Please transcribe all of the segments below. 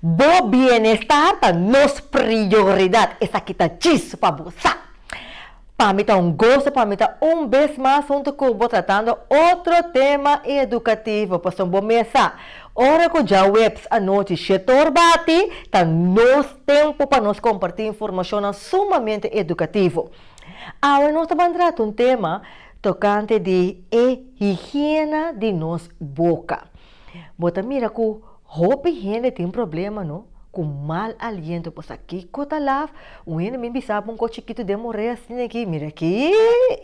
Bo bienestar ta nos prioridad. Esaki ta djis pa bo, sa. Pa mi ta un goso pa mi ta un bes mas hunto cu bo tratando otro tema educativo. Pasobra bo mes sa, ora cu djaweps anochi shetor bati, ta nos tempo pa nos comparti informacionnan sumamente educativo. Awe nos ta ban trata un tema tocante di e higiena di nos boca. Bo ta mira ku hopi hende tin problema no ku mal aliento bo sa kiko ta laf un hende mi bisa bo un kos chikitu den moré asin aki mira aki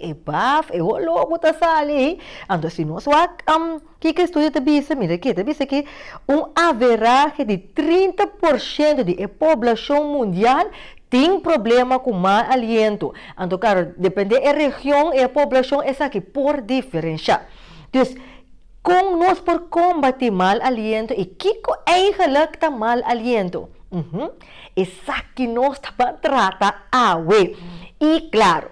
e baf e oló ku ta sali anto si nos wak kiko estudio ta bisa mira aki e ta bisa ki un averahe di trinta por shento di e poblashon mundial tin problema ku mal aliento anto klaro depende e region y e poblashon esaki por diferenshá. Kon nos por kòmbatí mal aliento i kiko eigenlek ta mal aliento? Uhu, esaki nos ta pa trata awe. I klaru,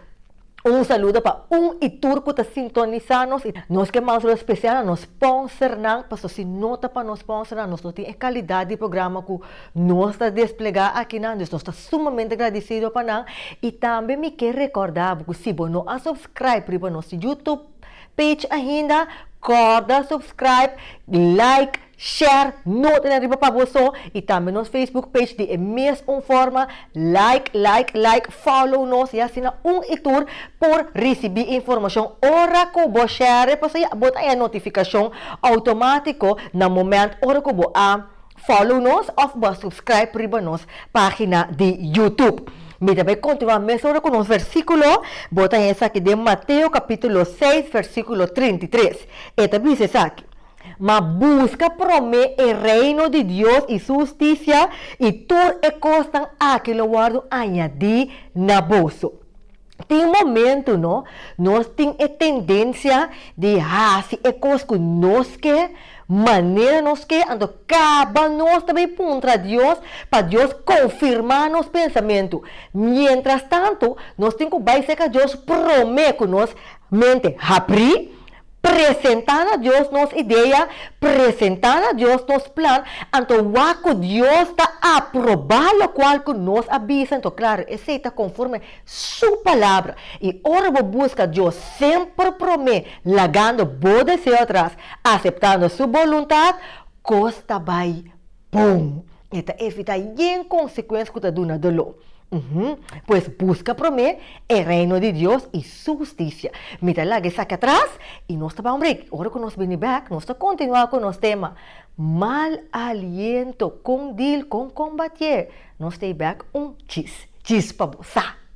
un saludo pa un i tur ku ta sintonisá nos. I nos ke manda saludo spesial na nos spònsernan, pasobra si no ta pa nos spònsernan nos no tin e kalidat di programa ku nos ta desplegá akinan. Dus nos ta sumamente gradisido pa nan. I tambe mi ke rekòrdá bo ku si bo no a subskraibe riba nos YouTube, Page ainda corda subscribe like share nota den riba pa bo so y tambe nos Facebook page di e mes un forma like like like follow nos y asina un y tur por ricibi informacion ora cu bo share pasobra ya bo ta haya notificacion automatico na moment ora cu bo a Follow nos of bo a subscribe riba nos pagina di YouTube. Mi ta bay continua mesora cu nos versiculo, bo ta haya esaki den Mateo capitulo seis versiculo trinta y tres. E ta bisa esaki, Ma busca prome e Reino di Dios y su husticia y tur e cosnan aki lo wordo añadi na boso. Tin momentu no, nos tin e tendensia di hasi e kos ku nos ke, manera nos ke, anto kaba nos ta bai puntra Dios pa Dios konfirmá nos pensamentu. Mientras tanto, nos tin ku bai serka Dios promé ku nos mente haprí. presentá na Dios nos idea, presentá na Dios nos plan, anto wak ku Dios ta aprobá lokual ku nos a bisa. Anto klaru, esei ta konforme Su Palabra. I ora bo buska Dios semper promé, lagando bo deseo atras, aseptando Su boluntat, kos ta bai bon. E ta evitá yen konsekuens ku ta duna doló. Pues buska promé e Reino di Dios i Su hustisia. Mi ta laga esaki atras i nos ta bai un brik. Ora ku nos bini bèk, nos ta kontinuá ku nos tema, Mal aliento, kon dil kon kombatié? Nos ta e bèk un chis. Chis pa bo sa!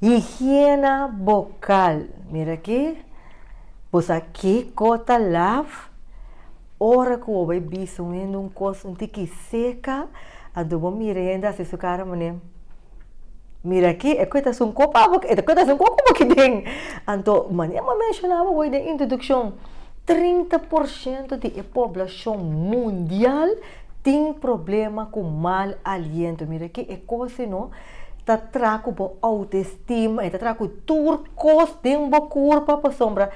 Higiena bokal, mira aki, bo sa kiko ta laf? Ora ku bo bai bisa un hende un kos un tiki seka, anto bo mira e hende a hasi su kara manem, mira aki, e kuetas un kop awo, e ta kuetas un kop awo aki den. Anto, maña bo a menshona bo hoy den introdukshon, trinta por shento di e poblashon mundial, Tin problema ku mal aliento. Mira ke e kos ei no ta tra ku bo outestima, e ta tra ku tur kos den bo kurpa pasobra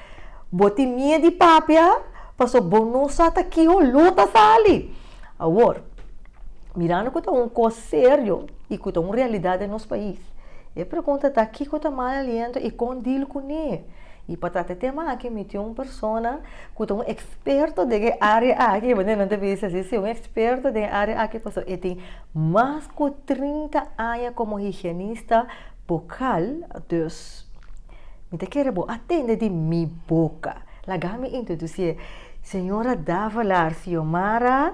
bo tin mie di papia pasobra bo no sa ta kiho lo ta sali. Awor, mirando ku ta un kos serio i ku ta un realidat den nos pais, e pregunta ta kiko ta mal aliento i kon dil kuné? Y pa trata e tema aki mi tin un persona cu ta un experto den e area aki, manera nan ta bisa asi, si, un experto den e area aki pasobra e tin mas cu trinta aña como higienista bucal, dus mi ta kere bo a tende di mi boca. Laga mi introduci'e, Señora Davalar Xiomara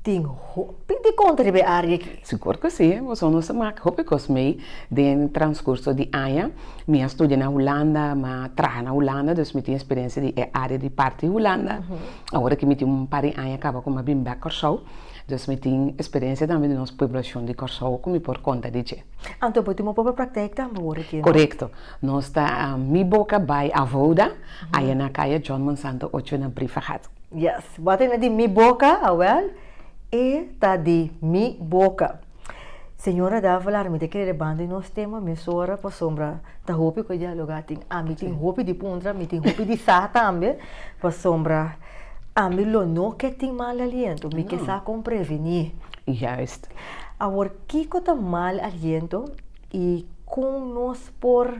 Tin hopi di konta riba e área aki. Sigur ku si, boso nos a maka hopi kos mei den transkurso di aña. Mi a studia na Hulanda, mi a traha na Hulanda, dus mi tin eksperensia di e área di parti Hulanda. Ora ku mi tin un par di aña kaba ku mi a bin bèk Kòrsou, dus mi tin eksperensia tambe di nos pueblashon di Kòrsou ku mi por konta di dje. Anto bo tin bo propio praktèk tambe ora aki? Korekto. Nos ta mi boka bai Avouda, aya na kaya John Monsanto ocho na Briefergat. Yes, bo a tende di mi boca, awel, e ta di mi boca. Señora Davila, ami te kere banda di nos tema mesora pasobra ta hopi cu e dialoga tin. Ami tin hopi di puntra, mi tin hopi di sa tambe, pasobra ami lo no ke tin mal aliento, mi ke sa con preveni. Juist. Awor, kico ta mal aliento? I kon nos por,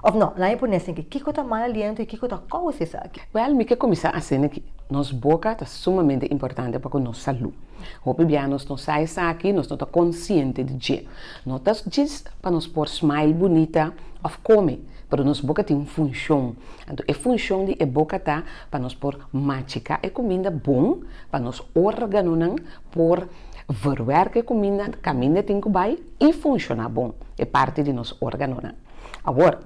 òf nò, laga mi pone asin aki, kiko ta mal aliento i kiko ta kous esaki? Wèl, mi ke kuminsá asin aki. Nos boka ta sumamente importante pa ku nos salú. Hopi bia nos no sa esaki, nos no ta konsiente di dje. No ta djis pa nos por smile bunita òf kome, pero nos boka tin un funshon. Anto e funshon di e boka ta pa nos por machiká e kuminda bon pa nos órganonan Por verwerk e kuminda kaminda e tin ku bai i funshoná bon. E parti di nos órganonan. Awor,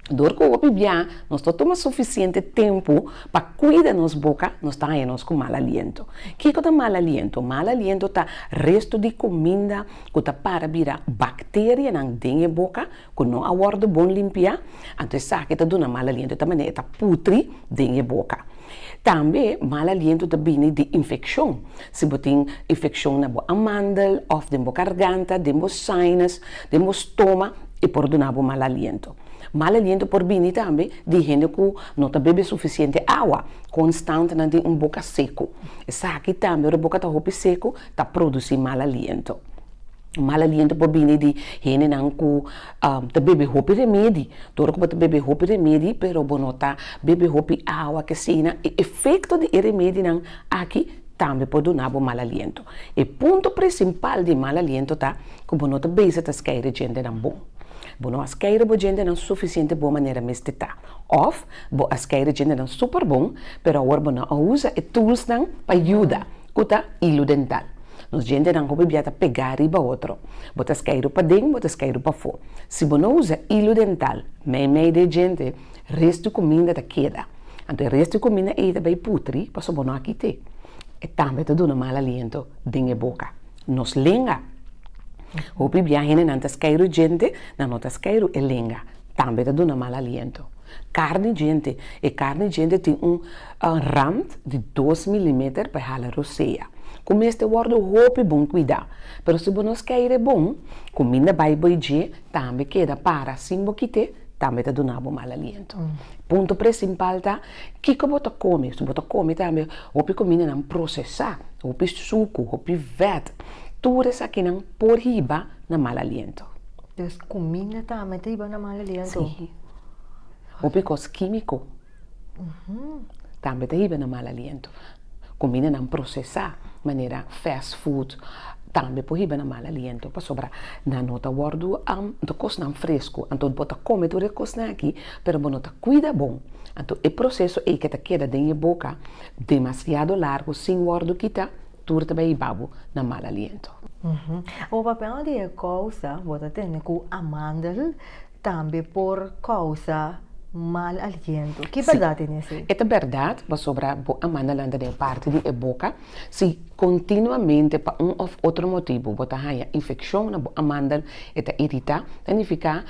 dor ku hopi bia nos ta tuma sufisiente tempu pa kuida nos boka, nos ta haña nos ku mal aliento. Kiko ta mal aliento? Mal aliento ta restu di kuminda ku ta para bira bakterianan den e boka ku no a wòrdu bon limpiá. Anto esaki ta duna mal aliento, e ta manera e ta putri den e boka. Tambe mal aliento ta bini di infekshon. Si bo tin infekshon na bo amandel òf den bo garganta, den bo sinus, den bo stoma, e por duna bo mal aliento. Mal aliento por bini tambe di hende ku no ta bebe sufisiente awa, konstant nan tin un boka seku. Esaki tambe, ora e boka ta hopi seku, ta produsí mal aliento. Mal aliento por bini di hendenan ku ta bebe hopi remedi. Tur ku bo ta bebe hopi remedi pero bo no ta bebe hopi awa ke asina e efekto di e remedinan aki tambe por duna bo mal aliento. E punto presimpal di e mal aliento ta ku bo no ta bisa ta skeire djentenan bon. Bo no a skeire bo djentenan sufisiente bon manera mester ta. Òf bo a skeire djentenan super bon pero awor bo no a usa e tulsnan pa yuda, ku ta ilu dental. Nos gentenan hopi bia ta pegá riba otro. Bo ta skeidu paden, bo ta skeidu pafó. Si bo no usa ilu dental meimei di e gente, res di kuminda ta keda. Anto e res di kuminda ei ta bai putri pasobra bo no a kit'é. E tambe ta duna mal aliento den e boka. Nos lenga. Hopi bia hendenan ta skeidu e gentenan no ta skeidu e lenga. Tambe ta duna mal aliento. Karni djente, E karni djente tin un rand di dos milimeter pa e hala rosea, ku mester wòrdu hopi bon kuidá. Pero si bo no skei'e bon, kuminda bai bo i dje, tambe keda para sin bo kit'e, tambe ta duna bo mal aliento. Punto presimpal ta, kiko bo ta kome? Si bo ta kome tambe hopi kumindanan prosesá, hopi suku, hopi vèt, tur esakinan por hiba na mal aliento. Des kuminda tambe ta hiba na mal aliento? Sí. Hopi kos kimiko tambe ta hiba na mal aliento, kumindanan prosesá manera fast food tambe por hiba na mal aliento pasobra nan no ta wòrdu anto kosnan fresku, anto bo ta kome tur e kosnan aki pero bo no ta kuida bo, anto e proseso ei ke ta keda den e boka demasiado largu sin wòrdu kita tur ta bai hiba bo na mal aliento. Ora papia un di e kousa bo ta tende ku a mandel Tambe por kousa mal aliento. Ki bèrdat den esei? E ta bèrdat pasobra bo a manda lanta den parti di e boka. Si kontinuamente pa un òf otro motibu bo ta haña infekshon na bo amandal, e ta iritá, ta nifiká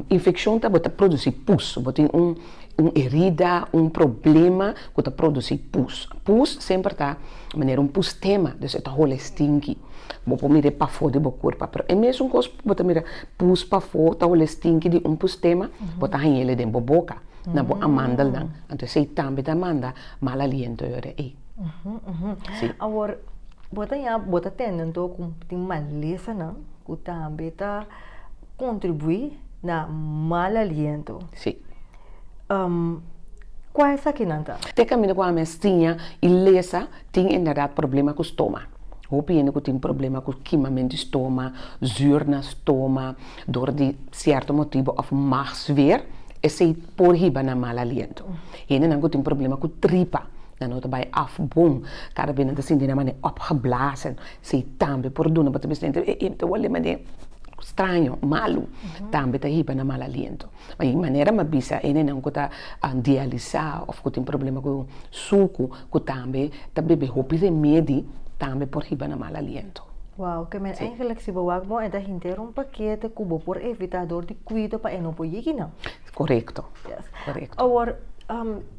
infekshon ta bo ta produsí pus. Bo tin un un erida, un problema ku ta produsí pus. Pus semper ta manera un pustema, dus e ta hola e stinki. Bo por mira e pafó di bo kurpa, pero e mesun kos ku bo ta mira Pus pafó tahola e stinki di un pus tema, bo ta hañ'e le den bo boka, na bo amandelnan, anto esei tambe ta manda mal aliento yora ei. Sí. Awor, bo ta ña, bo ta tende anto ku tin malesanan ku tambe ta kontribuí na mal aliento. Sí. Um, kua esakinan ta? Te kaminda ku ami a stiña i lesa tin inderdat problema ku stoma. Hopi hende ku tin problema ku kimamentu di stoma, zuur na stoma dor di sierto motibu òf magsfeer, esei por hiba na mal aliento. Hendenan ku tin problema ku tripa, nan no ta bai af bon, kada bes nan ta sinti nan manera opgeblazen, esei tambe por duna bo ta bisa, ei, mi ta wòrdu manera straño, malu, tambe ta hiba na mal aliento. Ma e manera m'a bisa enenan ku ta dialisá òf ku tin problema ku suku, ku tambe ta bebe hopi remedi, tambe por hiba na mal aliento. Wow, ke men engelek si bo wak bon e ta henter un pakete ku bo por evitá dor di kuido pa e no por yigi nan. Korekto, korekto. Awor,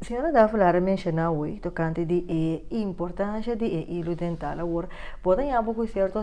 Señora Davila a menshoná hoy tokante di e importansha di e hilu dental. Awor, bo ta yama ku sierto.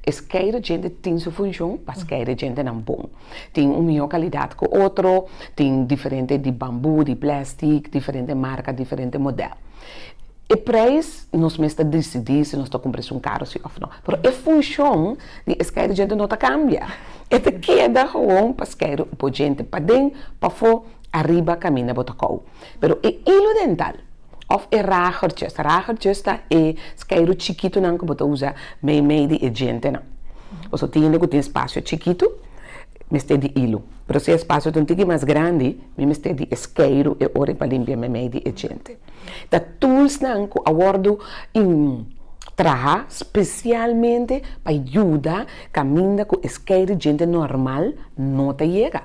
E skei de djente tin su funshon pa skei de djentenan bon. Tin un mihó kalidat ku otro, tin diferente di bambú, di plèstik, diferente marka, diferente modèl. E preis nos mes ta disidí si nos ta kumpra esun karu si òf no, pero e funshon di e skei de djente no ta kambia, e ta keda gewoon pa skei bo djente, paden, pafó, ariba, kaminda bo ta kou. Pero e ilu dental. Òf e ragertjes. Ragertjes ta e skeiru chikitunan ku bo ta usa meimei di e djentenan. Bo so tin hende ku tin spasio chikitu, mester di ilu. Pero si e spasio ta un tiki mas grandi, mi mester di e skeiru e ora pa limpia meimei di e djente. Ta tulsnan ku a wòrdu trahá spesialmente pa yuda kaminda ku e skeiru djente nòrmal no ta yega.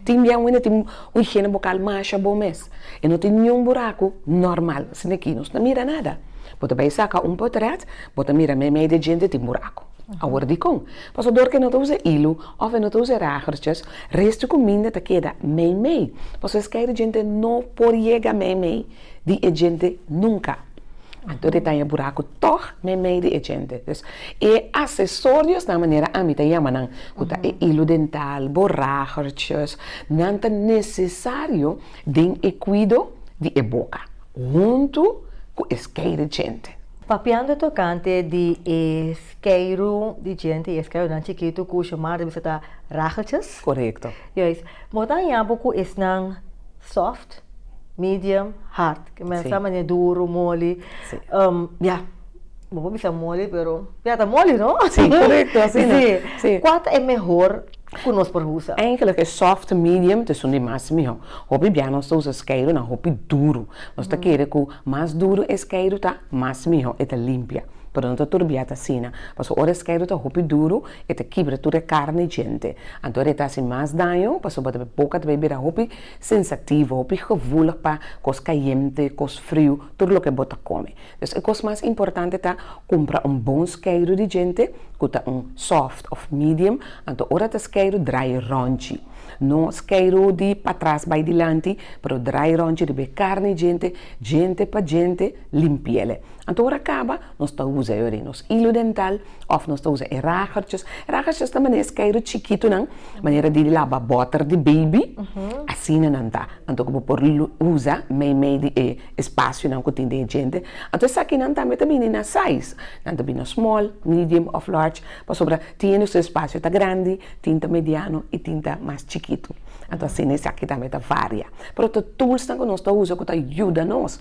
Tin bia un hende tin un higiene bucal masha bon mes, e no tin niun buraco normal sin aki nos no ta mira nada, bo ta bay saca un potret bo ta mira meimei de djente tin buraco, awor dicon? Pasobra dor que no ta usa hilo of e no ta usa ragertjes res di cuminda ta keda meimei, pasobra esky di djente no por yega meimei di e djente nunca. Anto di taña buraku tòg na e mei di e djente. Dus, e asesorios na manera ami ta yama nan, ku ta e ilu dental, boragertjes, nan ta nesesario den e kuido di e boka, huntu ku e skei di djente. Papiando tokante di e skeiru di djente i e skeirunan chikitu ku Xiomara ta bisa ta ragertjes. Korekto. Juis. Bo ta haña bo ku esnan sòft? medium, hard. Ke men a sa manera duru, moli. Ya, bo por bisa moli pero ya ta moli no? Si, korekto, asina. Si. Kua ta e mehor ku nos por usa? Eigentlek e soft, medium ta esun di mas mihó. Hopi bia nos ta usa skeido na hopi duru. Nos ta kere ku mas duru e skeido ta mas mihó, e ta limpia. Pero no ta tur biaha ta asina. Pasobra ora e skeido ta hopi duru, e ta kibra tur e karni djente. Anto e ta hasi mas daño, pasobra boka ta bai bira hopi Sensativo, hopi gevoelig pa kos kayente, kos friu, tur loke bo ta kome. Dus e kos mas importante ta, kumpra un bon skeiru di djente, ku ta un soft òf medium, anto ora ta skeiru drai ròntji. No skeiru di patras bai dilanti, pero drai ròntji riba e karni djente, djente pa djente, limpia el. Anto ora kaba, nos ta usa e ora di nos ilu dental, Òf nos ta usa e ragertjes, ragertjes ta manera skeiru chikitunan, manera di laba bòter di beibi, asina nan ta, anto ku bo por usa meimei di e espasionan ku tin den e djente, anto esakinan tambe ta bini na sais, nan ta bini na small, medium òf large, pasobra tin e su espasio ta grandi, tin ta mediano i tin ta mas chikitu, anto asina esaki tambe ta varia, pero ta toolsnan ku nos ta usa ku ta yuda nos.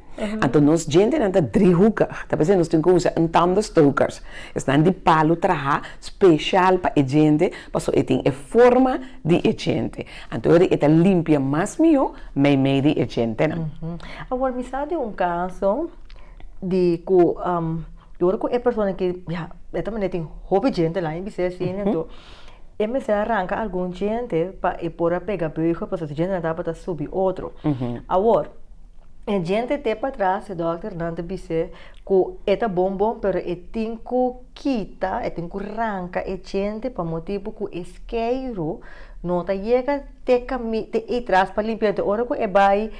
Anto nos djentenan ta driehukig, ta p'esei nos tin ku usa un tandenstokers. Esnan di palu traha speshal pa e djente pasobra e tin e forma di e djente. Anto eri e ta limpia mas mihó meimei di e djentenan. Awor mi sa di un kaso di ku yo hopi ku e persona ki ya de todas manera tin hopi djente la i bisei asina anto e mester a ranka algun djente pa e por a pega beuge pasobra si djentenan tabata subi otro. Awor. E djente te patras, e dòkternan ta bis'é ku e ta bon bon pero e tin ku kita, e tin ku ranka e djente pa motibu ku e skeiru no ta yega te kami te ei tras pa limpia. Te ora ku e bai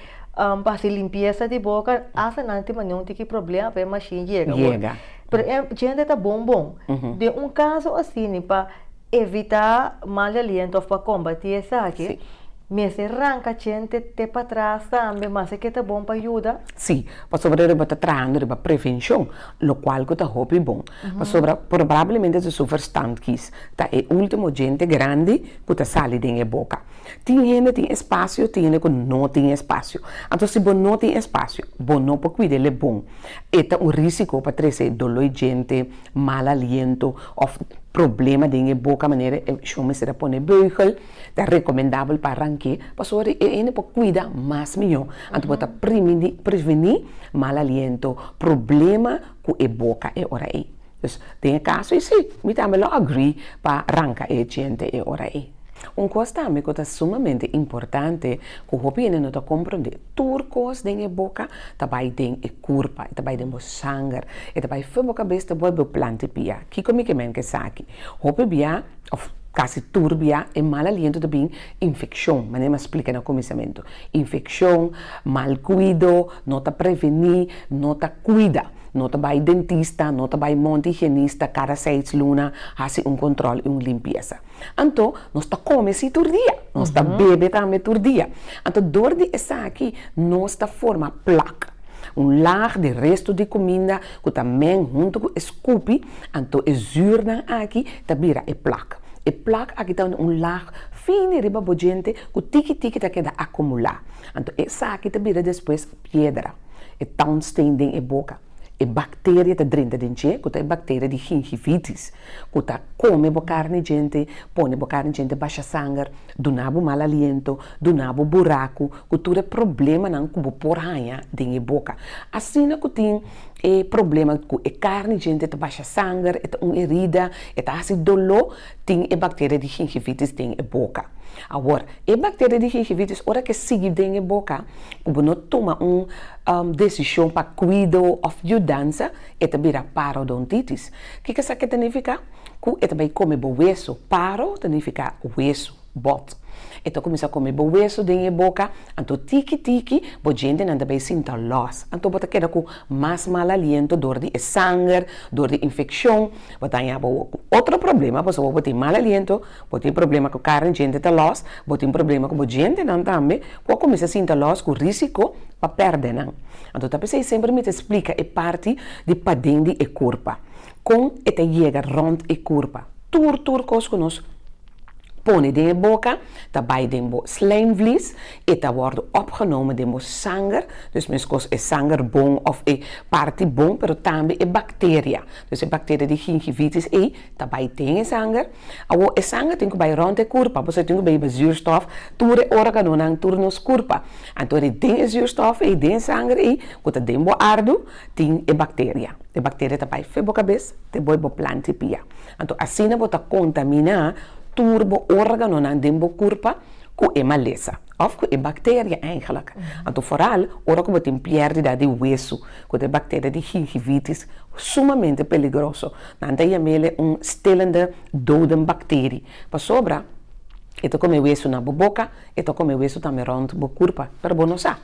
hasi limpiesa di boka hasta nan tin mane un tiki problema pa e mashin yega. Pero e djente ta bon bon. Den un kaso asini pa. evitá mal aliento òf pa kombatí esaki, mester ranka chente te patras tambe, mas e ke ta bon pa yuda? Sí, pasobra riba ta trahando riba prevenshon, lokual ku ta hopi bon, pasobra probrablemente su verstandkies ta e último djente grandi ku ta sali den e boka. Tin hende tin espasio, tin hende ku no tin espasio. Anto si bo no tin espasio, bo no por kuida el e bon. E ta un rísiko pa trese doló i djente, mal aliento. Of problema den e boka manera e shon mester a pone beugel, ta recomendabel pa ranke pasobra di e hende por cuida mas miyo, anto bo ta primini preveni mal aliento, problema cu e boca e ora ey. Dus den e caso ey si, mi tambe lo agree pa ranca e diente e ora ey. Un cos tambe cu ta sumamente importante cu hopi hende no ta comprende, tur cos den e boca ta bay den e. Kurpa, e ta bai den bo sanger, e ta bai fen bo kabes ta boi bo planti bia. Kiko mi ke mente esaki? Hopi bia, òf kasi tur bia, e mal aliento ta bin infekshon, manera mi a splika na kuminsamentu. Infekshon, mal kuido, no ta prevení, no ta kuida, no ta bai dentista, no ta bai monti higienista kada seis luna hasi un kontròl i un limpiesa. Anto nos ta kome si tur dia, nos ta bebe tambe tur dia. Anto dor di esaki nos ta forma plak, un lag di restu di kuminda ku ta meng huntu ku e skupi, anto e zùrnan aki ta bira e plak. E plak aki ta un lag fin di riba bo djente ku tiki tiki ta keda akumulá, anto esaki ta bira despues piedra, e townsteen den e boka. E bakteria ta drenta den dje, ku ta e bakteria di gingivitis. ku ta kome bo karni djente, pone bo karni djente basha sanger, duna bo mal aliento, duna bo buraku, ku tur e problemanan ku bo por haña den e boka. Asina ku tin e problema ku e karni djente ta basha sanger, e ta un herida, e ta hasi doló, tin e bakteria di gingivitis den e boka. Awor, e bakteria di gingivitis ora ke sigui den e boka, ku bo no tuma un desishon pa kuido òf yudansa, e ta bira parodontitis. Kiko esaki ta nifiká? Ku e ta bai kome bo wesu. Paro ta nifiká wesu, bòt. E ta kuminsá kome bo wesu den e boka, anto tiki tiki bo djentenan ta bai sinta lòs. Anto bo ta keda ku mas mal aliento dor di e sanger, dor di infekshon. Bo ta haña bo otro problema pasobra bo tin mal aliento. Bo tin problema ku kara di djente ta lòs, bo tin problema ku bo djentenan tambe ku a kuminsá sinta lòs ku risiko pa pèrdè nan. Anto ta p'esei semper mi ta splika e parti di paden di e kurpa, kon e ta yega rònt e kurpa. Tur tur kos ku nos pone den e boka ta bai den bo slijmvlies, e ta wòrdu opgenomen den bo sanger, dus meskos e sanger bon òf e parti bon pero tambe e bakteria, dus e bakteria di gingivitis ei. Ta bai tin e sanger. Awor e sanger tin cu bai rond e curpa, pasobra tin cu beiba zuurstof tur e ora cu nan tur nos curpa. Anto ri den e zuurstof ey, den e sanger ey cu ta den bo ardu tin e bacteria. E bacteria ta bai fe bo cabes te bo y bo planti pia. Anto asina bo ta contamina tur bo organonan den bo curpa cu e malesa of cu e bacteria eigenlijk. Anto foral ora cu bo tin pierdida di hueso cu ta e bacteria di gingivitis, sumamente peligroso. Nan ta yam'ele un stilende doden bakteri, pasobra e ta kome wesu na bo boka, e ta kome wesu tambe rònt bo kurpa, pero bo no sa.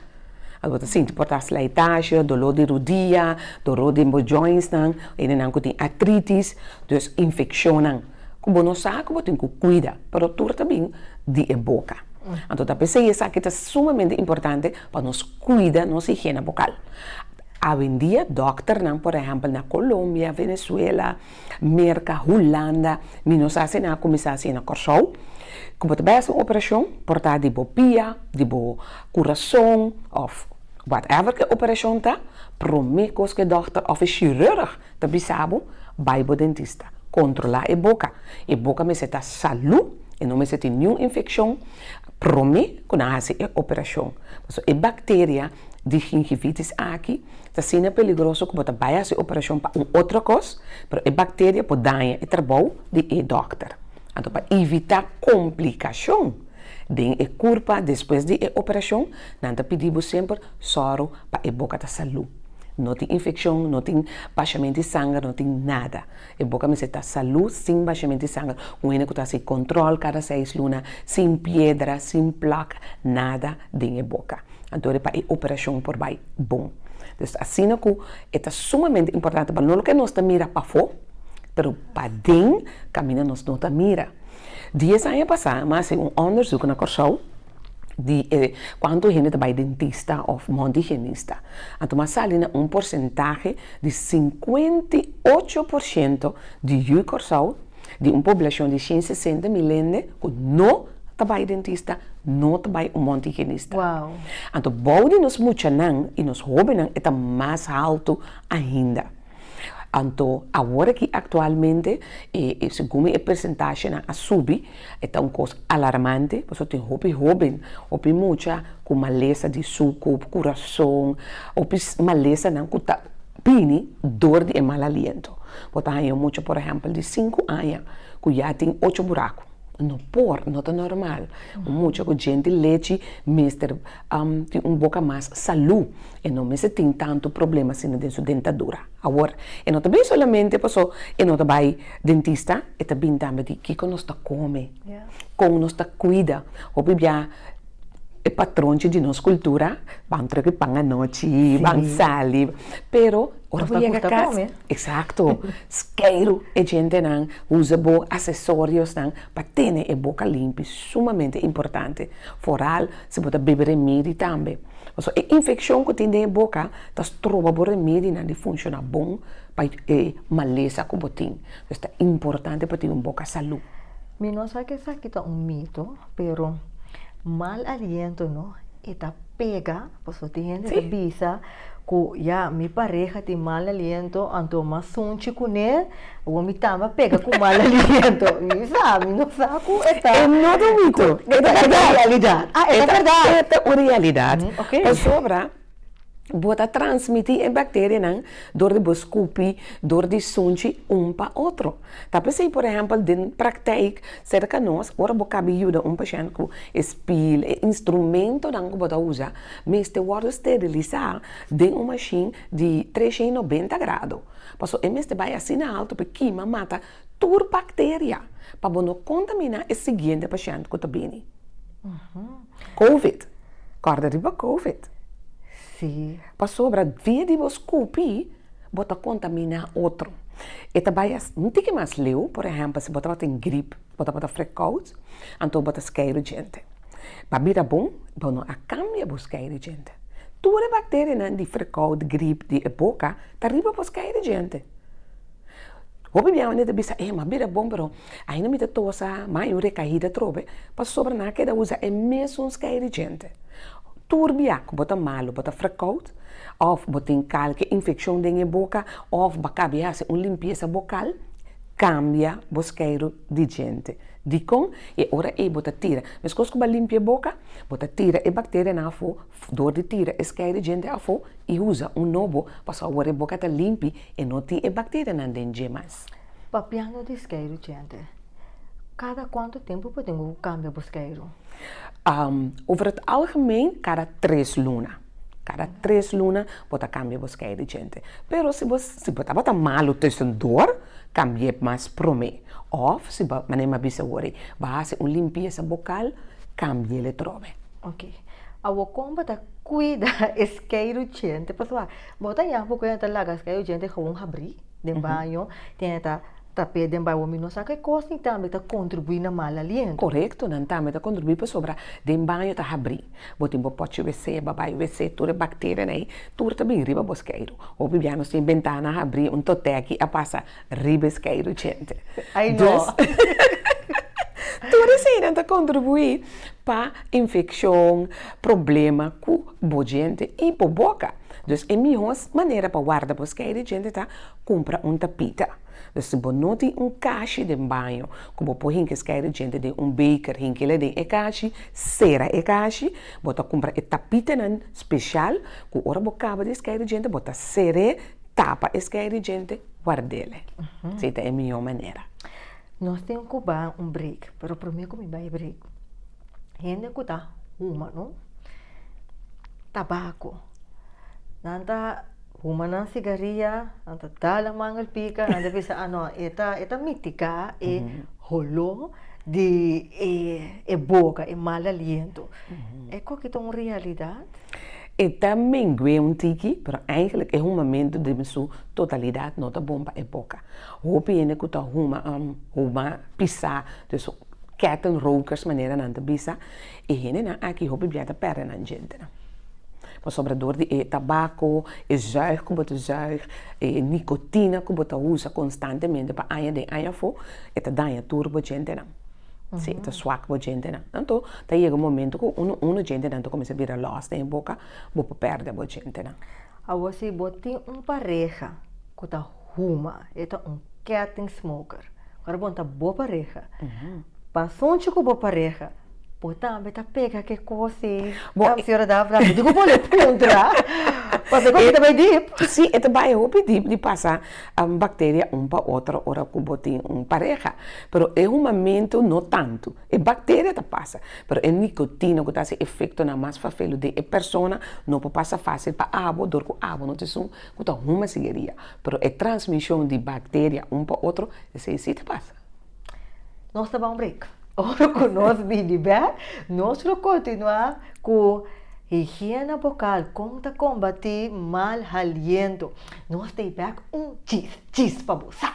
Awe bo ta sinti por ta slijtaasje, doló di rudia, doló den bo jointsnan, hendenan ku tin atritis, dus infekshonnan ku bo no sa ku bo tin ku kuida, pero tur ta bin di e boka. Anto ta p'esei esaki ta sumamente importante pa nos kuida nos higiena bokal. Awendia dòkternan, por ehèmpel na Colombia, Venezuela, Merka, Hulanda, mi no sa si nan a kuminsá hasi na Kòrsou, ku bo ta bai hasi un operashon, por ta di bo pia, di bo kurason òf whatever ke operashon ta, promé kos ku e dòkter òf e shirùrg Ta bisa bo, bai bo dentista. Kontrolá e boka. E boka mester ta salú, e no mester tin niun infekshon promé ku nan hasi e operashon. Pasobra e bakteria di gingivitis aki ta asina peligroso ku bo ta bai hasi operashon pa un otro kos, pero e bakteria por daña e trabou di e dòkter. Anto pa ivitá komplikashon. Den e curpa despues di e operacion nan ta pidi bo semper soro pa e boca ta salud, no tin infeccion, no tin bashamento di sanger, no tin nada, e boca mester ta salud sin bashamento di sanger, un hende cu ta haci control cada seis luna sin piedra, sin plak, nada den e boca, anto e pa e operacion por bay bon, pues asina cu e ta sumamente importante pa no lo que nos ta mira pafo pero paden caminda nos no ta mira. Dies aña pasá mi a hasi un ondersuk na Kòrsou di e kuantu hende ta bai dentista òf mont di higienista. Anto mi a sali na un porsentahe di sinkuenta i ocho por shento di yu Kòrsou, di un poblashon di shen sesenta mil hende ku no ta bai dentista, no ta bai un mont di higienista. Anto bou di nos muchanan i nos hóbennan e ta mas haltu ainda. Anto awor aki aktualmente e segun e persentashenan a subi, e ta un kos alarmante pasobra tin hopi hóben, hopi mucha ku malesa di su kop, kurason, hopi malesanan ku ta bini dor di e mal aliento. Bo ta haña un mucha por ehèmpel di sinku aña ku ya tin ocho buraku, no por, no ta nòrmal un mucha ku djenti lechi mester tin un boka mas salú. E no mester tin tantu problema asina den su dentadura. Awor, e no ta bin solamente paso e no ta bai dentista, e ta bin tambe di kiko nos ta kome, kon nos ta kuida. Hopi bia e patronchi di nos kultura ban troke pan anochi, ban sali, pero ora bo yega kas, eksakto, skeiru e djentenan, usa bo asesoriosnan pa tene e boka limpi, sumamente importante. Foral Si bo ta bebe remedi tambe, pasobra e infekshon ku tin den e boka ta stroba bo remedinan di funshona bon pa e malesa ku bo tin, pues ta importante pa tin un boka salú. Mi no sa ke esaki ta un mito, pero mal aliento no e ta pega, pasobra tin hende ta bisa ku ya mi pareha tin mal aliento, anto mas sunchi kuné. Awor mi tamba pega ku mal aliento, mi sa, mi no sa ku e ta. E no ta mito, e ta realidat. Ah, e ta bèrdat. E ta un realidat. Oké. Pasobra bo ta transmití e bakterianan dor di bo skupi, dor di sunchi un pa otro. Ta p'esei, por ehèmpel, den prakteik serka nos, ora bo kabi yuda un pashènt ku e spiel, e instrumentonan ku bo ta usa, mester wòrdu sterilisá den un mashin di trescientonoventa grado. Paso e mester bai asina alto pa e kima mata tur bakteria pa bo no kontaminá e siguiente pashènt ku ta bini. Covid. Kòrda riba Covid. Pasobra via di bo skupi bo ta kontaminá otro. E ta bai asina, un tiki mas leu, por ehèmpel si bo tabata tin grip, bo tabata frekou, anto bo ta skei riba djente. Pa bira bon, bo no a kambia bo skei di djente. Tur e bakterianan di frekau, di grip, di e boka ta riba bo skei di djente. Hopi di awor e ta bisa, eh, m'a bira bon, pero ainda mi ta tosa, mai un rekaida atrobe, pasobra nan a keda usa e mesun skei di djente. Tur bia ku bo ta malu, bo ta frekau, òf bo tin kalke infekshon den e boka, òf bo a kabia hasi un limpiesa bokal, Cambia bo skeiro di djente. Dicon? E ora ey bo ta tira, mescos cu bo a limpia e boca, bo ta tira e bacterianan afo door di tira e skeiro di djente afo y uza un nobo pasobra awor e boca ta limpi e no tin e bacterianan den dje mas. Papiando di skeiro djente, cada cuanto tempo bo tin cu cambia bo skeiro? Over het algemeen cada tres luna. Kada tres luna bo ta kambia bo skei di djente. Pero si bo si bo tabata malu tusendor, kambi'é mas promé. Òf si bo, manera mi a bisa wor ei, bo hasi un limpiesa bokal, kambi'é letròbe. Oké. Awor kon bo ta kuida e skei di djente? Pasobra bo ta yama poko hende ta laga e skei di djente gawon habri den baño, tin hende ta trapea den baño, mi no sa ke kos ni tambe ta kontribuí na mal aliento. Korekto, nan tambe ta kontribuí pasobra den baño ta habri. Bo tin bo pochi wc, babai wc, tur e bakterianan ei, tur ta bin riba bo skeiru. Hopi bia nos tin bentana habri, un toteki a pasa riba e skeiru djente. Dus, tur eseinan ta kontribuí pa infekshon, problema ku bo djente i bo boka. Dus e mihó manera pa warda bo skeiru djente ta kumpra un tapita. Lo si bo no tin un kashi den baño ku bo por hinkis kai ridjente den un beker, hinkila den e kashi, sera e kashi, bo ta kumpra e tapitanan speshal ku ora bo kaba di skai ridjente bo ta ser'e, tapa e skai ridjente, wardele. Esei ta e mihó manera. Nos tin ku ba un break, pero promé ku mi bai break, hende ku ta huma no tabako. Nan ta huma nan sigaria, nan ta dal nan manga pika, nan ta bisa a no e ta e ta mitiga e holó di e e boka, e mal aliento. E koki ta un realidat? E ta mengu'é un tiki, pero eigenlik e humamentu den su totalidat no ta bon pa e boka. Hopi hende ku ta huma huma pisá, kèten rokers manera nan ta bisa. E hendenan aki hopi bia ta pèrdè nan djentenan, pasobra dor di e tabako, e zùig ku bo ta zùig, e nikotina ku bo ta usa konstantemente pa aña den aña afó, e ta daña tur bo djentenan, si e ta swak bo djentenan. Anto ta yega un momento ku unu unu djentenan ta kuminsá bira lòs den e boka, bo por pèrdè bo djentenan. Awor si bo tin un pareha ku ta. Huma, e ta un ketting smoker. Ora bo ta bo pareha, pasobra ku bo pareha bo tambe ta pega ke kos ei. Bo a señora Dafne a diku bo le puntra, pasobra ku aki ta bai dip. Si, e ta bai hopi dip di pasa bakteria un pa otro ora ku bo tin un pareha. Pero e humamentu no tantu. E bakteria ta pasa, pero e nikotina ku ta hasi efektonan mas fafelu den e persona no por pasa fásil pa abo dor ku abo no ta esun. ku ta huma sigueria, pero e transmishon di bakteria un pa otro, esei si ta pasa. Nos ta bai un break. Ora ku nos bini bè, nos lo kontinuá ku Higiena Bokal, kon ta kombatí mal haliento. Nos ta e bèk un chis chis pa bo sa!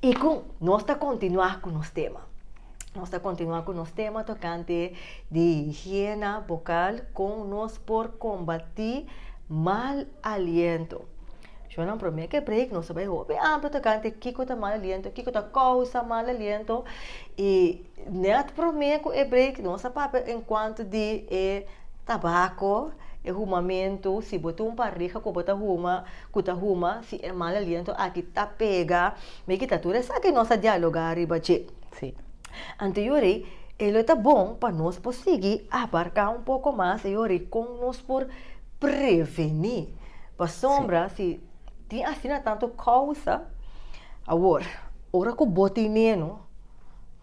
Y cu nos ta continua cu nos tema. Nos ta continua cu nos tema tocante di higiena bucal, con nos por combati mal aliento. Yo nan prome ke break nos bai hopi amplo tocante kiko ta mal aliento, kiko ta causa mal aliento. Y net prome cu e break nos a papia en cuanto di e tabaco, e humamento, si bo tin un pareha cu bo ta huma, cu ta huma si e mal aliento aki ta pega, mi kita tur esaki nos a dialoga riba dje. Sí. Anto yo rei, e lo ta bon pa nos por sigui abarca un poco mas e yo rei con nos por preveni. Pasobra si tin asina tanto causa, awor, ora cu bo tin meno,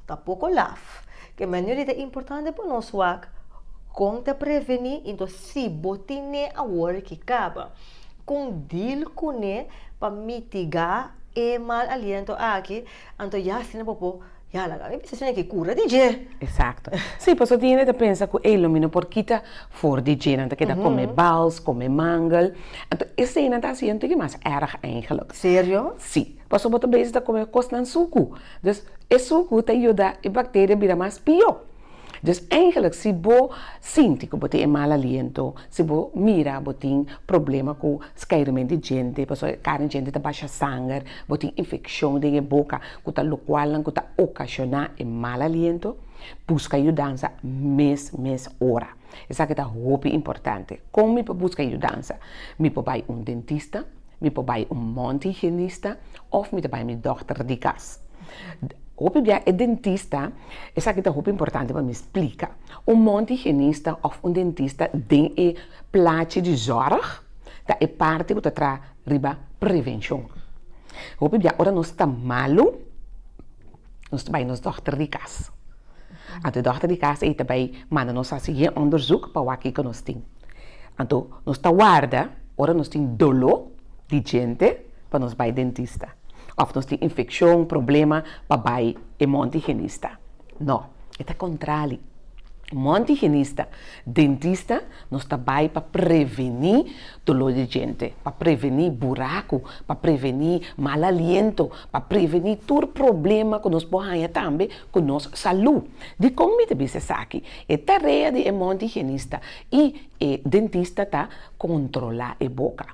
ta poco laf. Ke manera ei ta importante pa nos wak con ta preveni y entos si bo tin ne awor ki caba. Con deal cune pa mitiga e mal aliento aki, anto ya asina bo por ya laga. Mi bisa asina ki cura di dje. Exacto. Si, pasobra tin hende ta pensa cu ey lo mi no por kita for di dje. Nan ta keda come bals, come mangel. Anto eseinan ta haci yo no tin ki mas erg eigenlijk. Serio? Si. Pasobra bo ta bezig ta come cosnan sucu. Dus e sucu ta yuda e bacteria bira mas pio. Dus eigenlijk si bo sinti ku bo tin e mal aliento, si bo mira bo tin problema ku skeiremen di djente, pasobra e karen djente ta basha sanger, bo tin infekshon den e boka ku ta lokualnan ku ta okashoná e mal aliento, buska yudansa mes mes ora. Esaki ta hopi importante. Kon mi por buska yudansa? Mi por bai un dentista, mi por bai un mondhigienista òf mi ta bai mi dòkter di kas. Hopi bia e dentista, esaki ta hopi importante pa mi splika. Un mondhigienista òf un dentista den e plachi di zòrg ta e parti ku ta traha riba prevenshon. Hopi bia ora nos ta malu, nos ta bai nos dòkter di kas. Anto e dòkter di kas ei ta bai manda nos hasi e onderzoek pa wak kiko nos tin. Anto nos ta warda ora nos tin doló di djente pa nos bai dentista, òf nos tin infekshon, problema pa bai e mont higienista. Nò, e ta kontrali. Mont higienista, dentista nos ta bai pa prevení. Doló di djente, pa prevení buraku, pa prevení mal aliento, pa prevení tur problema ku nos por haña tambe ku nos salú. Dikon mi ta bisa esaki? E tarea di e mont higienista i e dentista ta kontrolá e boka.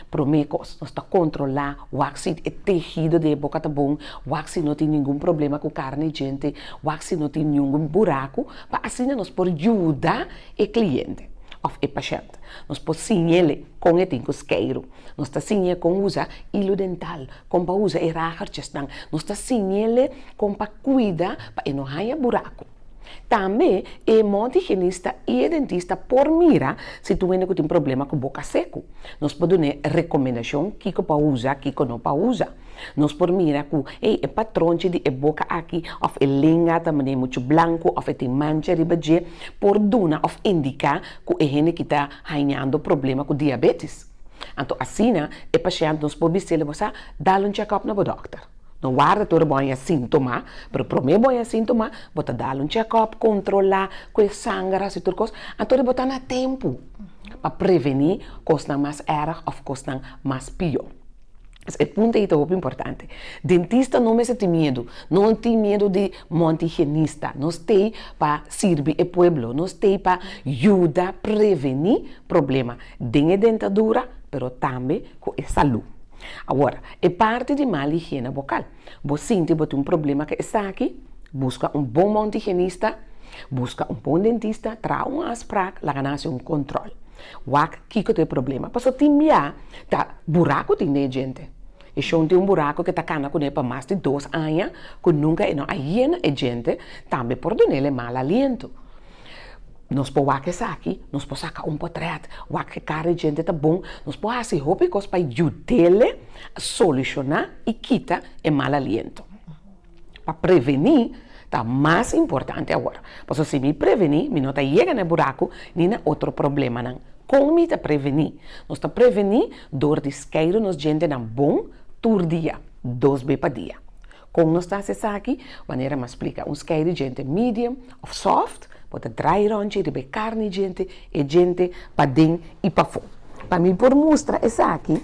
Promé kos, nos ta kontrolá wak si e tehido di e boka ta bon, wak si no tin ningun problema ku karni di djente, wak si no tin ningun buraku, pa asina nos por yuda e kliente òf e pashènt. Art. Nos por siñ'el kon e tin ku skeiru. Nos ta siñ'e kon usa ilu dental, kon pa usa e ragertjesnan. Nos ta siñ'el kon pa kuida pa e no haña buraku. Tambe e mont higienista i e dentista por mira si tu hende ku tin problema ku boka seku. Nos por dun'e rekomendashon kiko pa usa, kiko no pa usa. Nos por mira ku, hey, e patronchi di e boka aki òf e lenga ta manera muchu blanku òf e tin mancha riba dje, por duna òf indiká. ku e hende ki ta haiñando problema ku diabetis. Anto asina e pashènt nos por bis'é leba sa dal un chèkòp na bo dòkter. No warda tur e bo a haña síntoma, pero promé bo haña síntoma bo ta dal un chèkòp, kontrolá ku e sanger hasi tur kos, anto di bo ta na tempu pa prevení kosnan mas èrg òf kosnan mas pió. E punto ei ta hopi importante. Dentista no mester tin miedu. No tin miedu di monta higienista. Nos t'ei pa sirbi e pueblo. Nos t'ei pa yuda preveni problema den e dentadura pero tambe cu e salud. Awor, e parti di mal higiene bokal. Bo sinti bo tin un problema ku esaki? Buska un bon mount higienista, buska un bon dentista, traha un afsprak, laga nan hasi un kontrol. Wak kiko ta e problema. Pasobra tin bia ta buraku tin den e djente. E shon tin un buraku ku e ta kana kuné pa mas di dos aña, ku nunka e no a yena e djente, tambe por dunel e mal aliento. Nos por wak esaki, nos por saka un potrèt, wak e kara e djente ta bon, nos por hasi hopi kos pa yud'el solushoná i kita e mal aliento. Pa prevení ta mas importante awor, pasobra si mi prevení mi no ta yega na e buraku ni na otro problemanan. Kon mi ta prevení? Nos ta prevení dor di skeidu nos djentenan bon tur dia, dos be pa dia. Kon nos ta hasi esaki? Manera m'a splika, un skei di djente medium òf sòft por ta drai ròntji riba e karni djente, e djente paden i pafó. Pa mi por mustra esaki,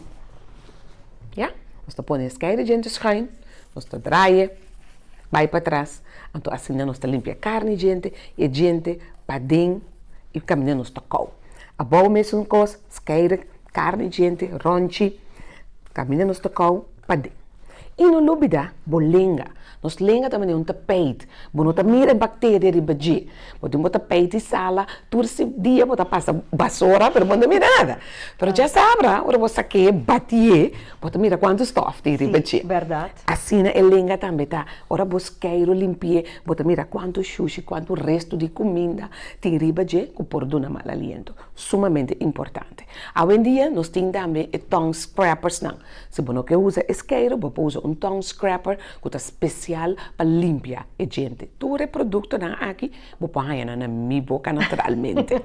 ya, nos ta pone e skei di djente skuin, nos ta draie bai patras, anto asina nos ta limpia e karni djente, e djente paden i kaminda nos ta kou. Abou mesun kos, Skeire, karni djente, ronchi, kaminda nos ta kau pad'é. I no lubidá bo lenga. Nos lenga ta manera un tapeit. Bo no ta mira e bakteria riba dje. Bo tin bo tapeit di sala, tur si dia bo ta pasa basora pero bo no ta mira nada. Pero dje sabra, ora bo sake'é, bati'é, bo ta mira kuantu stòf tin riba dje. Asina e lenga tambe ta. Ora bo skeire o limpi'é, bo ta mira kuantu shushi, kuantu restu di kuminda tin riba dje ku por duna mal aliento. sumamente importante. Awendia nos tin tambe e tongue scrapersnan. Si bo no ke usa e skeiru, bo por usa un tongue scraper ku ta spesial pa limpia e djente. Tur e produktonan aki bo por haña nan na mi boka naturalmente.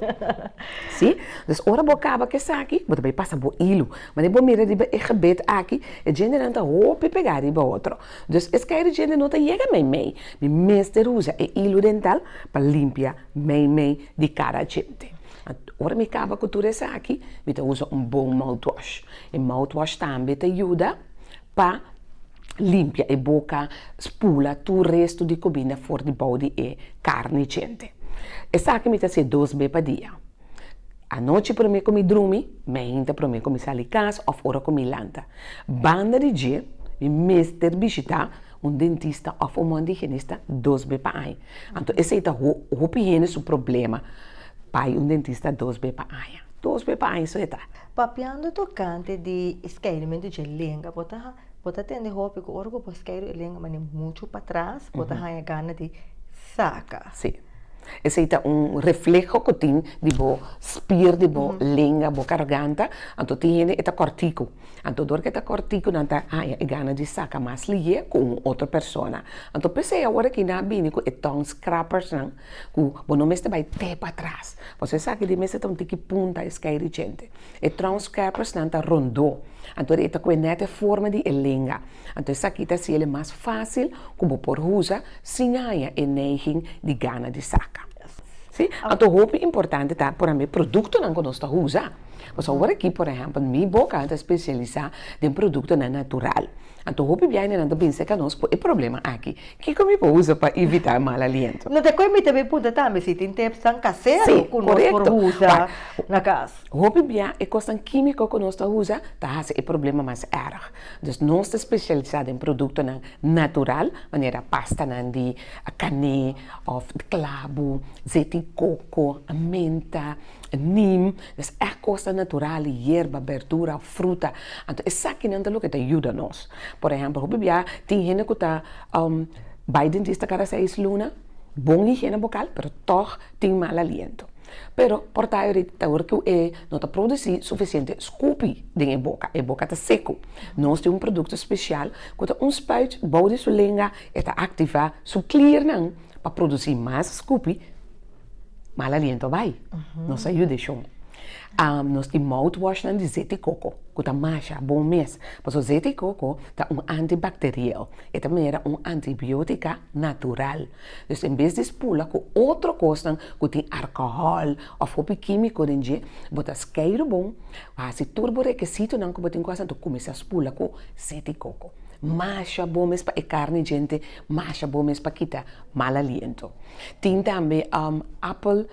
Si? Entonces ora bo kaba ku esaki, bo ta bai pasa bo ilu. Manera bo mira riba e gebed aki, e djentenan ta hopi pegá riba otro. Entonces e skeiru djente no ta yega meimei. Mi mester usa e ilu dental pa limpia. mei mei di cara djente. Ora mi caba cu tur esaki, mi ta usa un bon mouthwash. E mouthwash tambe ta yuda pa limpia e boca, spula tur resto di cuminda for di bou di e carni djente. Esaki mi ta haci'e dos be pa dia. Anochi prome cu mi drumi, mainta prome cu mi sali cas of ora cu mi lanta. Banda di dje mi mester bishita. Un dentista òf un mòn di higienista dos be pa aña. Anto esei ta ho hopi hende su problema, bai un dentista dos be pa aña, dos be pa aña so e ta. Papiando tokante di e skeidimentu dje lenga, bo ta bo ta tende hopi ku ora ku bo skeidi e lenga manera muchu patras bo ta haña gana di saka. Si. Esei ta un refleho ku tin di bo spier di bo lenga, bo garganta, anto tin hende e ta kòrtiku. Anto dor ke ta kòrtiku nan ta haña e gana di saka mas liye ku un otro persona. Anto p'esei awor aki nan a bini ku e tong scrappersnan ku bo no mester bai te patras, pasobra esaki di mester ta un tiki punta e skei di djente. E trong scrappersnan ta rondó, anto e ta kue nèt e forma di e lenga. Anto esaki ta hasi el mas fásil ku bo por usa sin haña e neiging di gana di saka. Anto hopi importante ta por ambe produktonan ku nos ta usa. Pasobra awor aki por ehèmpel mi boka ta spesialisá den produktonan natural. Anto hopi biaininan ta binse ka nos ku e problema aki. Kiko mi por usa pa evitá e mal aliento? No te kue mi ta bin punta tambe si tin tepsnan kasero ku nos por usa na kas. Hopi bia e kosnan kímiko ku nos ta usa ta hasi e problema mas èrg. Dus nos ta spesialisá den produktonan natural manera pastanan di kané òf klabu, zet di koko, menta, Neem, nes èk kosnan natural, yerba, berdura, fruta, anto esakinan ta loke ta yuda nos. Por ehèmpel, hopi bia tin hende ku ta bai dentista kada seis luna, bon higiene bokal, pero tòg tin mal aliento. Pero por ta yorit ta oir ku e no ta produsí sufisiente skupi den e boka, e boka ta seku. Nos tin un produkto spesial ku ta un spuit bou di su lenga, e ta aktivá su kliernan pa produsí mas skupi. mal aliento a bai, nos a yuda e shon. Am nos tin mouthwashnan di zeti koko ku ta masha bon mes, pasobra zeti koko ta un antibakteriel, e ta manera un antibiotika natural. Pues en bes di spula ku otro kosnan ku tin arkohòl òf hopi kimiko den dje, bo ta skei ru bon, bo hasi tur bo rekesitonan ku bo tin ku hasi anto, kuminsá spula ku zeti koko. Masha bon mes pa e karni djente, masha bon mes pa kita. Mal aliento. Tin tambe apple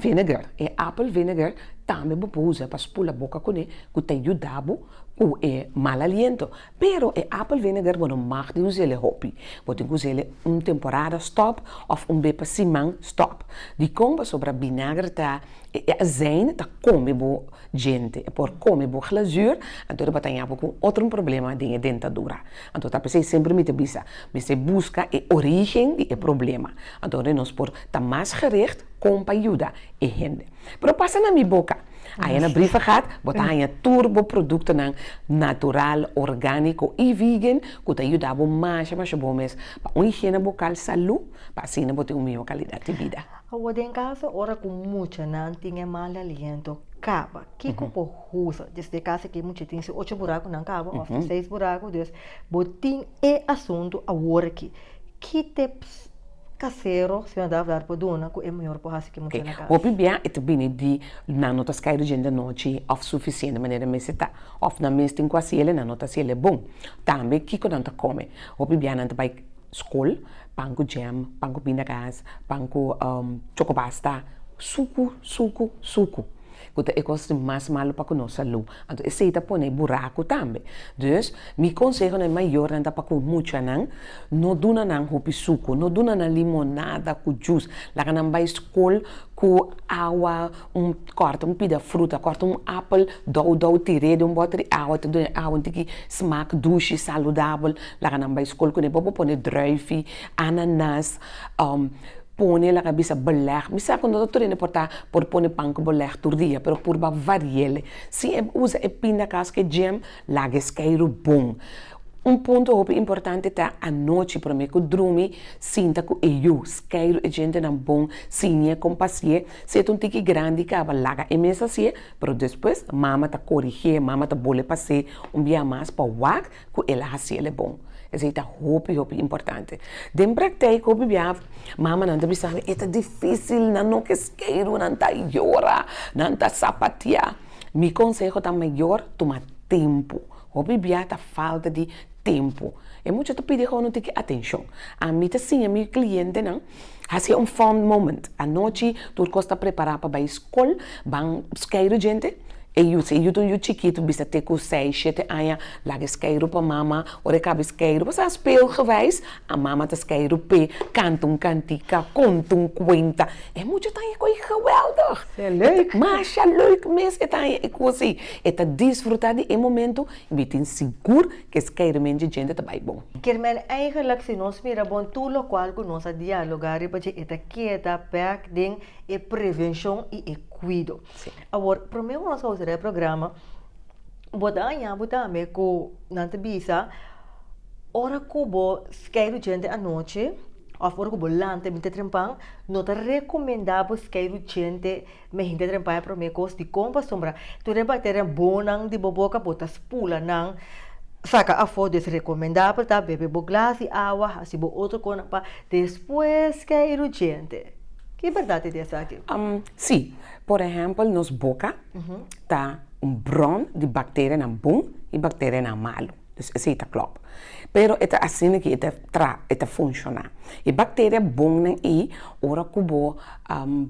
vinegar, e apple vinegar tambe bo por usa pa spula boca cune cu ta yudabu cu e mal aliento, pero e apple vinegar bo no mag di usele hopi, bo tin cu usele un temporada stop of un be pa siman stop, dicon? Pasobra binager ta e azijn ta come bo djente, por come bo glazuur, anto e batañabo cu un otro problema den e dentadura, Anto ta p'esei semper mi ta bisa, mester buska e origen di e problema, anto ora nos por ta mas gericht kon pa yuda e hende. Pero pasa na mi boka, haña na Briefergat bo ta haña tur bo produktonan natural, orgániko i vegan ku ta yuda bo masha masha bon mes pa un higiena bokal salú pa asina bo tin un mihó kalidat di bida. Awo den kaso ora ku muchanan tin e mal aliento kaba. Kiko por usa desde casa ke mucha tin su ocho burakunan kaba of su seis buraku dus bo tin e asuntu awor aki ki tips kasero señor Davdar por duna ku e mayor por hasi ke mucha na casa. Hopi bia e ta bini di nan no ta skai di djente anochi of sufisiente manera mester ta of nan mes tin ku hasi ele nan no ta hasi ele bon tambe kiko nan ta kome hopi bia nan ta bai skol pan ku jam pan ku pindakas pan ku chokopasta suku suku suku. ku ta e kos di mas malu pa ku nos salú, anto esei ta pone e buraku tambe. Dus, mi konseho na e mayornan ta pa ku muchanan no duna nan hopi suku, no duna nan limonada ku jus, laga nan bai skol ku awa, un kòrta un pida fruta, kòrta un apel dou dou, tir'é den un bòte di awa, ta duna e awa un tiki smak dushi, saludabel, laga nan bai skol ku ne, bo por pone drùifi, ananas. Pone laga bisa beleg. Mi sa ku no ta tur hende por ta por pone pan ku beleg tur dia, pero purba variel. Si e usa e pindakas ku e djem, laga e skeiru bon. Un punto hopi importante ta anochi promé ku drumi sinta ku e yu, skeiru e djentenan bon, siñ'é kon pa si'é. Si e ta un tiki grandi kaba, laga e mesa si'é, pero despues mama ta korig'é, mama ta bol'é pa se un bia mas pa wak. ku el a hasi el e bon. Esei ta hopi hopi importante. Den praktèk hopi bia mamanan ta bisa, e ta difísil, nan no ke skeiru, nan ta yora, nan ta sapatiá. Mi konseho ta mayor tuma tempu, hopi bia ta falta di tempu. E mucha ta pidi gou no tin ke atenshon. Ami ta siña mi klientenan. Hasi un fond moment. Anochi tur kos ta prepará pa bai skol, ban skei ru djente, e yu si e yu ta un yu chikitu bisa te ku sei, shete aña, laga e skei ru pa mama, ora e kaba e skei ru, pasá speelgewijs, a mama ta skei ru p'e, kanta un kantika, konta un kuenta, e mucha ta aña ku ei geweldig! Masha leuk mes e ta aña e kosi, e ta disfrutá di e momentu i mi tin sigur Kes kermen dje djente ta bai bon. Kermen eigenlik si nos mira bon tur lokual ku nos a dialoga riba dje e ta keda bek den e prevenshon i e kuido. Awor promé ku nos a usará e programa bo ta haña bo tambe ku nan ta bisa ora ku bo skei ru djente anochi òf ora ku bo lanta i binti trempan no ta rekomendá bo skei ru djente. Mi hende trempa e prome kos dikon pasobra tur e bakteria bonnan di bo boka bo ta spula nan saka afo des rekomendabel ta bebe bo glas di awa hasi bo otro kosnan pa despues ke i rudjente ki bèrdat i di esaki? Si, por ehèmpel nos boka ta un bron di bakterianan bon i bakterianan malu. dus esei ta klòp. Pero e ta asina ke e ta tra e ta funshoná. E bakteria bonnan ei ora ku bo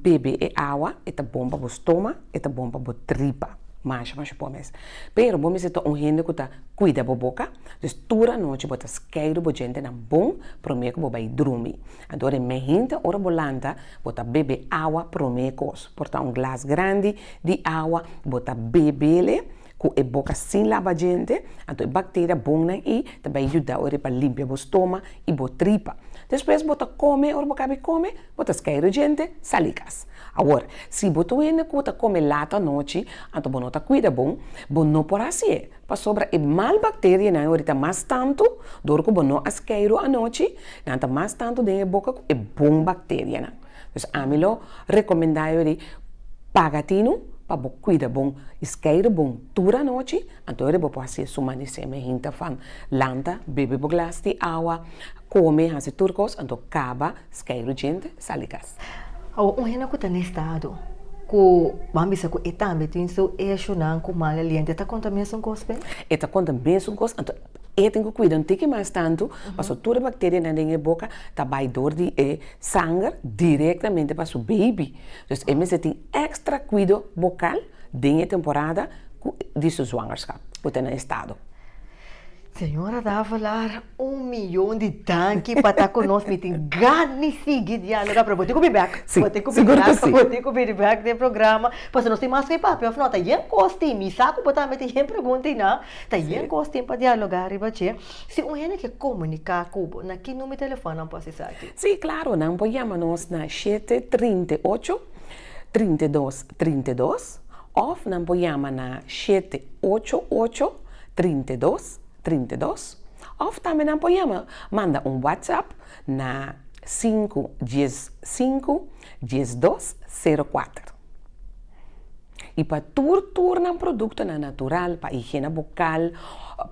bebe e awa e ta bon pa bo stoma e ta bon pa bo tripa masha masha bo mes. Pero bo mester ta un hende ku ta kuida bo boka, dus tur anochi bo ta skeidu bo djentenan bon promé ku bo bai drumi. Anto e mehinte ora bo lanta bo ta bebe awa promé kos, por ta un glas grandi di awa bo ta bebele Ku e boka sin laba djente, anto e bakteria bonnan i ta bai yuda ora e pa limpia bo stoma i bo tripa. Despues bo ta kome, ora bo kabi kome, bo ta skai ro djente, sali kas. Awor, si bo ta un hende ku ta kome lat anochi, anto bo no ta kuida bon, bo no por hasié, pasobra e mal bakterianan ora ta mas tantu, dor ku bo no a skai ro anochi, nan ta mas tantu den e boka ku e bon bakterianan. Dus ami lo recomenda yo di paga tinu pa bo cuida bon y scaire bon tur anochi, anto ora bo por haci eso suma di seme hinta fam, lanta, bebe bo glas di awa, come, haci tur cos, anto caba, scaire djente, sal di cas. Awa un hende cu ta na estado cu ban bisa cu e tambe tin su eshonan cu mal aliento e ta conta mesun cos pe? E ta conta mesun cos, anto E tin ku kuida un tiki mas tantu, paso tur e bakterianan den e boka ta bai dor di e sanger direktamente pa su beibi, dus e mester tin èkstra kuido bokal den e temporada ku di su zwangerskap ku ta na estado. Señora Davalar, un miyon di danki pa ta ku nos, mi tin gan di sigui dialoga, pero bo tin ku bin bèk, bo tin ku bin bèk, bo tin ku bin bèk den programa, paso nos tin mas ku e papia, òf nò? Ta yen kos tin, mi sa ku bo tambe tin yen preguntinan. Ta yen cos tin pa dialoga riba dje. Si un hende ke comunica cu bo, na ki nume telefon nan por haci esaki? Sí, claro, nan por yama nos na shete trinta i ocho, trinta i dos, trinta i dos, of nan por yama na shete ocho ocho, trinta i dos, trinta i dos, of tambe nan por yama, manda un WhatsApp na sinku, dies sinku, diesdos, sero kuater. I pa tur tur nan produktonan natural, pa higiena bokal,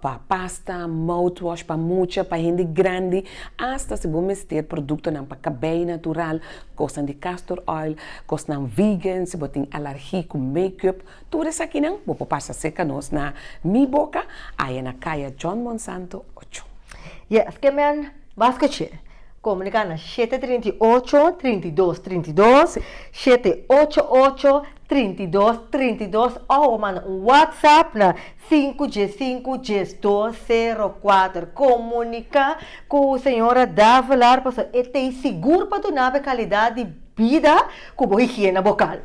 pa pasta, mouthwash, pa mucha, pa hende grandi, asta si bo mester produktonan pa kabei natural, kosnan di castor oil, kosnan vegan, si bo tin alargi ku makeup, tur esakinan bo por pasa serka nos na Mi Boca, aya na Kaya John Monsanto ocho. Yes, ke men mas kuch'é. Komunikana, shete trinta i ocho, trinta i dos, trinta i dos, shete ocho ocho, trinta i dos, trinta i dos òf bo manda un whatsapp na sinku dies sinku, dies dos, sero kuater. Komuniká ku señora Davelar pasobra e ta e sigur pa duna bo e kalidat di bida ku bo higiena bokal.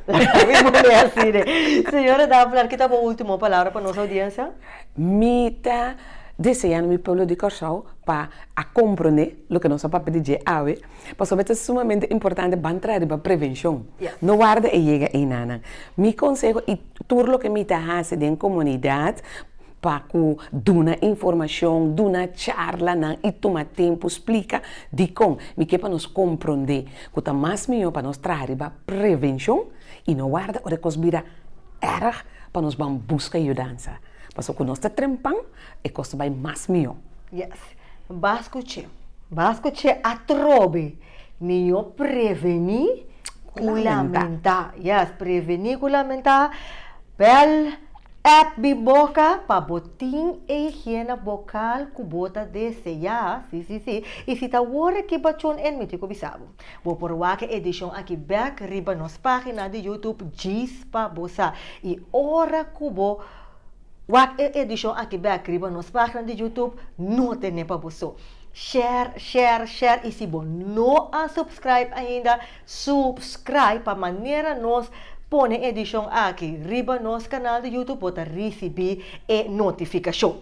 Señora Davelar, kita bo último palabra pa nos audiensia? Mi ta deseando mi pueblo di Kòrsou pa a komprondé loke nos a papia di dje awe, pasobra ta sumamente importante ban traha riba prevenshon, no warda e yega einanan. Mi konseho i tur loke mi ta hasi den komunidat pa ku duna informashon, duna charlanan i tuma tempu splika dikon mi ke pa nos komprondé ku ta mas mihó pa nos traha riba prevenshon i no warda ora e kos bira erg pa nos ban buska yudansa, paso ku nos ta trempan e kos ta bai mas mihó. Yes, bas kuch'é, bas kuch'é atrobe, mihó prevení ku lamentá, yes, prevení ku lamentá, bèl èp di boka pa bo tin e higiena bokal ku bo ta deseá, sí, sí, sí, i si ta wòrda ki bachon en mi tin ku bisa bo. Bo por wak e edishon aki bèk riba nos página di YouTube Djispa Bosa. I ora ku bo wak e edishon aki bèk riba nos página di YouTube, no ten'é pa bo so. Share, share, share i si bo no a supscribe ainda, supscribe pa manera nos pone e edishon aki riba nos kanal di YouTube bo ta risibí e notifikashon.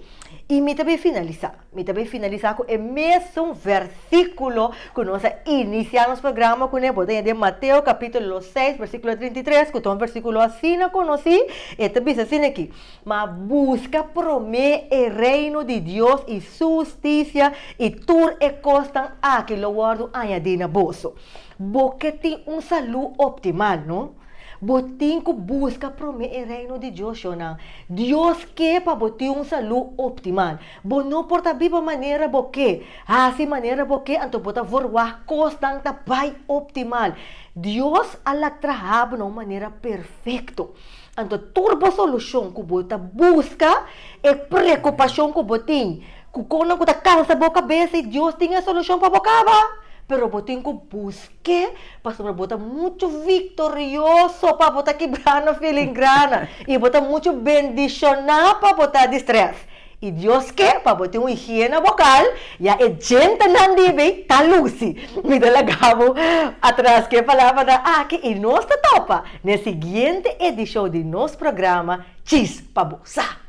I mi ta bai finalisá. Mi ta bai finalisa ku e mesun versikulo ku nos a inisia nos programa kuné. Bo ta yand'é Mateo kapitulo seis versíkulo trinta i tres, ku ta un versíkulo asina konosí. E ta bisa asina akí, Ma buska promé e Reino di Dios i Su hustisia, i tur e kosnan akí lo wòrdu añadí na boso. Bo ke tin un salú optimal, no? Bo tin ku buska promé e Reino di Dios, yonan. Dios ke pa bo tin un salú optimal. Bo no por ta biba manera bo ke, hasi manera bo ke, anto bo ta vorwá kosnan ta bai optimal. Dios a laat traha bo na un manera perfekto. Anto tur bo solushon ku bo ta buska, e preokupashon ku bo tin, ku kosnan ku ta kansa bo kabes, si Dios tin e solushon pa bo kaba. Pero bo tin ku busk'é, pasobra bo ta muchu viktorioso pa bo ta kibrá na filingrana i bo ta muchu bendishoná pa bo ta di strès. I Dios ke pa bo tin un higiena bokal, ya e djentenan di be ta lusi. Mi ta laga bo atras ku e palabranan aki i nos ta topa na e siguiente edishon di nos programa Chis pa bo sa.